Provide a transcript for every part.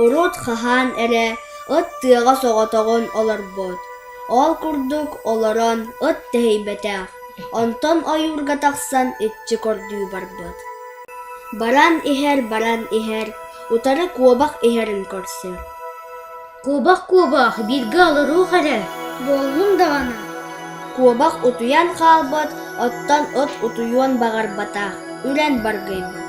Урут хаһаан эрэ ыт тыаҕа соҕотоҕун олорбут. Ол курдук олорон ыт тэһийбэтэх, онтон ойуурга тахсан иччи көрдүү барбыт. Баран иһэр, баран иһэр, утары куобах иһэрин көрсөр Куобах куобах бииргэ олоруох эрэ буоллун даҕаны куобах утуйан хаалбат оттон от утуйуон баҕарбата үрэн баргыйбыт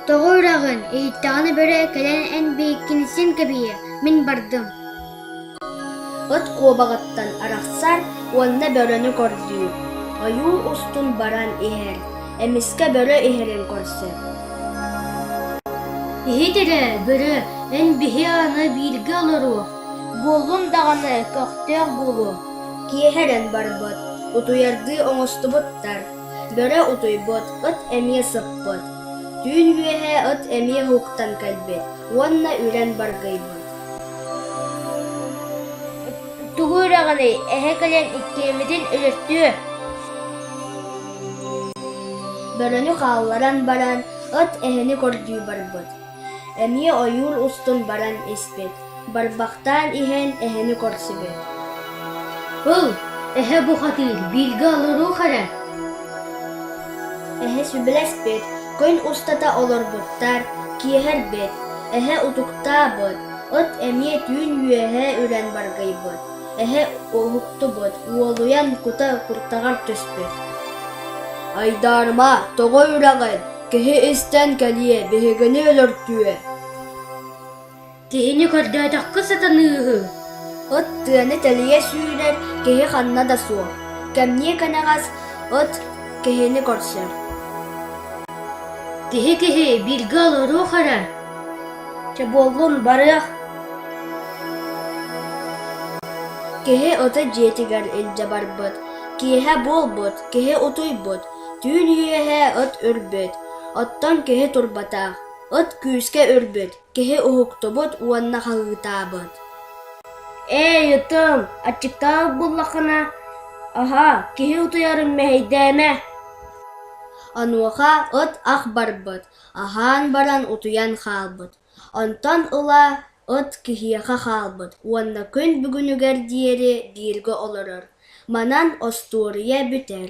тоҕо үрэҕин иһиттэҕинэ бөрө кэлэн эн бииккинсин кэбийэ мин бардым от куобаҕыттан арахсар уонна бөрөнү кордуур ойуу устун баран иһэр Эмискэ бөрө иһэрин көрсө: «Иһит эрэ, бөрө, эн биһи аны бииргэ олоруох, буоллун даҕаны көхтөөх буолуо» киэһэрэн барбыт, утуйаргыы оҥостубуттар. Бөрө утуйбут, ыт эмиэ сыппыт. Түүн үөһэ ыт эмиэ уһуктан кэлбит уонна үрэн баргыйбыт. «Тугу үрэҕиний, эһэ кэлэн иккиэммитин өлөртүө?» Бөрөнү хаалларан баран, ыт эһэни көрдүү барбыт. Эмиэ ойуур устун баран испит. Барбахтаан иһэн эһэни көрсүбүт. «Ыл, эһэ бухатыыр бииргэ олоруох эрэ» Эһэ сүбэлэспит, күн устата олорбуттар, киэһэрбит, эһэ утуктаабыт, ыт эмиэ түүн үөһэ үрэн баргыйбыт. Эһэ уоһуктубут, уолуйан кута куртаҕар түспүт. «Айдаарыма, тоҕо үрэҕин? Киһи истэн кэлиэ, биһигини өлөртүө!» «Киһини көрдөөтөххө сатаныыһы!» От тыаны тэлийэ сүүрэр киһи ханна да суох. Кэмниэ кэнэҕэс от киһини көрсөр. «Киһи-киһи, бииргэ олоруох эрэ!» Чэ буоллун, барыах Киһи ото дьиэтигэр илдьэ барбыт Киэһэ буолбут, киһи утуйбут Түүн үөһэ от үрбүт Оттон киһи турбатах От күүскэ үрбүт Киһи уһуктубут уонна хаһыытаабыт Ээ, ытым, аччыктаабыт буоллаххына, аһаа, киһи утуйарын мэһэйдээмэ Онуоха от ах барбыт Аһаан баран утуйан хаалбыт, онтон ыла ыт киһиэхэ хаалбыт уонна күн бүгүнүгэр диэри бииргэ олорор, манан остуоруйа бүтэр